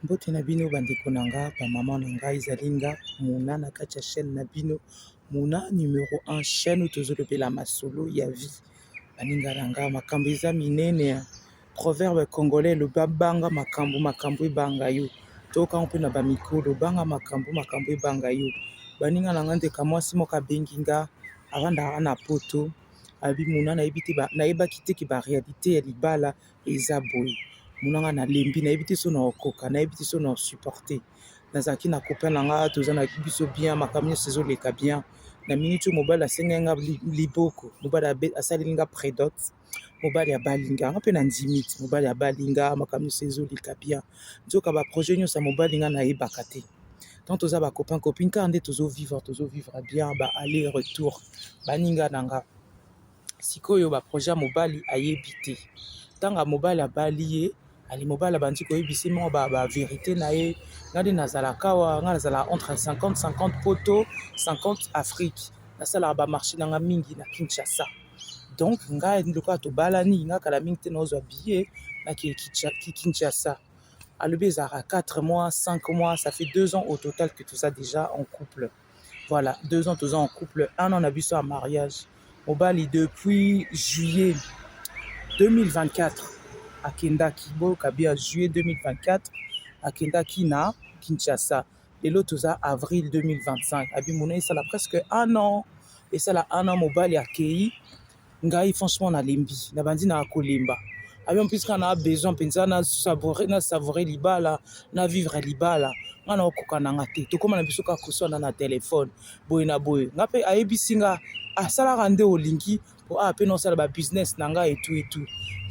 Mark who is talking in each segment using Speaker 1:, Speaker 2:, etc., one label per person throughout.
Speaker 1: Mbote na bino bandeko na nga ba mama na ngai ezali nga mona na kati ya chaine na bino mona numero 1 chaine oyo tozolobela masolo ya vie baninga na nga makambo eza minene ya proverbe congolais loba banga makambo makambo ebanga yo toyokango mpe na bamikolo banga makambo makambo ebanga yo baninga na nga ndeka mwasi moko abengi nga avandaka na poto abi mona nayebi te nayebaki te ke barealité ya libala eza boye mona nga nalembi nayebi te so na okoka nayebi te so na osupporte nazalaki na copain na nga toza na biso bien makambo nyonso ezoleka bien na miniti oyo mobali asengaki nga liboko mobali asaleli nga predote mobali abali nga nga mpe na ndimi ti mobali abali nga makambo nyonso ezoleka bien nzoka baprojet nyonso ya mobali nga nayebaka te tant toza bacopain copine kaka nde tozovivre tozovivre bien ba aller retour baninga na nga sikoyo ba projet ya mobali ayebi te ntango ya mobali abali ye ali mobali abandi koyebisi mwa ba, ba verité na ye ngai nde nazalaka awa ngai nazalaka entre 50 50 poto 50 afrique nasalaka bamarché na ngai mingi na kinshasa donc ngai lokola tobalani ngai kala mingi te naozwa billet nakee kinshasa alobi ezalaka 4 mois 5 mois ça fait 2 ans au total que toza déjà en couple voilà deux ans toza en couple un an na biso ya mariage mobali depuis juillet 2024 akendaki boyoka bia juillet 2024 akendaki na kinshasa lelo toza avril 2025 abimona esala presque un an esala un an mobali akei ngai franchement nalembi nabandi na kolemba avion plus kaka na besoin mpenza na savoure na savoure libala na vivre libala ngai na okoka na nga te tokóma na biso kaka koswana na telefone boye na boye nga mpe ayebisi nga asalaka nde olingi mpo awa mpe naosala babusiness na ngai etu etu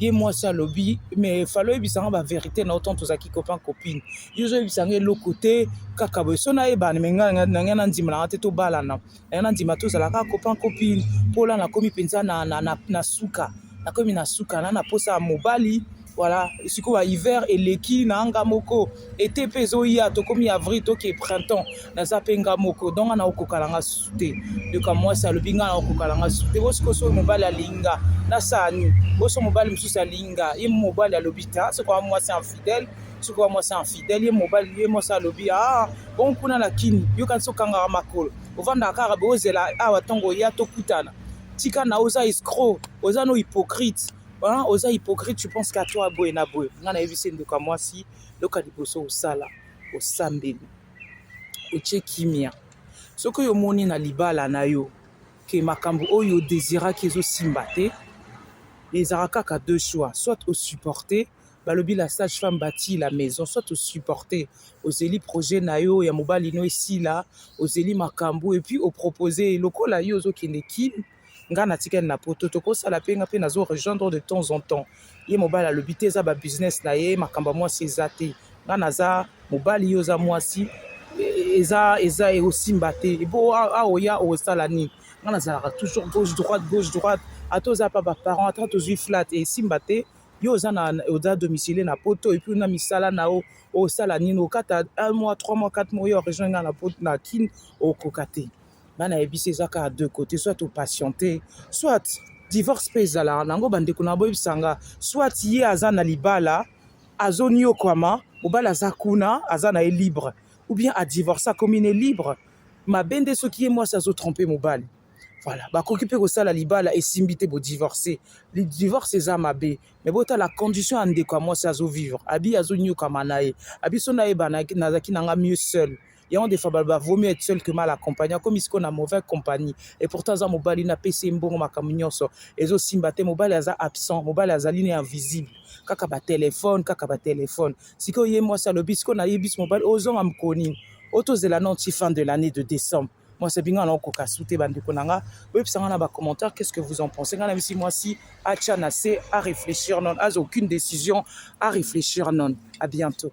Speaker 1: ye mwasi alobi me falo oyebisa nga baverité na otan tozalaki copain copine yo ozoyebisa nga eloko te kaka boye so nayebana me ngai na ngai nandima na nga te tobalana Nayo na ndima tozala kaka copain copine po la nakomi mpenza na, na, na, na suka nakomi na suka na na posa ya mobali voilà sikoyo ya hiver eleki na nga moko ete mpe ezoya tokomi avril toke printemps naza mpe nga moko donc nga naokoka na nga susu te yoka mwasi alobi nga naokoka na nga susu te bosiko soki mobali alingi nga nasala nini boso mobali mosusu alingi nga ye mobali alobi ta soki mwasi infidèle soki mwasi infidèle ye mobali ye mwasi alobi ah bon kuna na kini yokanisi okangaka makolo ovandaka kaka bozela awa ntongo ya tokutana tika na oza escro oza no hypocrite hein? oza hypocrite tu pense qu'à toi boye na boye ngai nayebisi ndeko ya mwasi loka liboso osala osambeli otie kimia soki oyo omoni na libala na yo ke makambo oyo odesiraki ezosimba te ezalaka kaka deux choix soit osupporte balobi la sage femme bati la maison soit osupporte ozeli projet na yo ya mobali no esila ozeli makambo epuis opropose lokola yo ozokende kin ngai natikali na poto tokosala mpe ngai mpe nazo rejoindre de temps en temps ye mobali alobi te eza babusiness na ye makambo ya mwasi eza te ngai naza mobali yo oza mwasi e, eza eza ekosimba te ebo aoya okosala nini ngai nazalaka toujours gauche droite gauche droite ata oza mpa baparent ata tozwi flat esimba te yo oza na oza domicile na poto et puis na misala na yo osala nini okata un mois trois mois quatre mois yo rejoindre nga na poto na kin okoka te nga nayebisi eza kaka deux côté soit opatiente soit divorce mpe ezalaka nango bandeko na boyebisa nga soit ye aza na libala azoniokwama mobali aza kuna aza na ye libre ou bien adivorce akomi ne libre mabe nde soki ye mwasi azotrompe mobali Voilà, bakoki mpe kosala libala esimbi te bo divorce. Le divorce eza mabe, mais bota la condition ya ndeko ya mwasi azo vivre. Abi azo nyokama na ye. Abi so na ye bana nazaki nanga mieux seul. Yango defa ba vaut mieux être seul que mal accompagné. Akomi siko na mauvaise compagnie. Et pourtant aza mobali na pesi mbongo makambo nyonso. Ezo simba te mobali aza absent, mobali azali ne invisible. Kaka ba téléphone, kaka ba téléphone. Siko ye mwasi alobi siko na ye bis mobali ozonga mkoni. Otozela non ti fin de l'année de décembre. Moi, c'est binga na okoka sute bandeko na nga. Boyebisa nga na ba commentaires qu'est-ce que vous en pensez. Nga na bisi moi si acha na se à réfléchir non, as aucune décision à réfléchir non. À bientôt.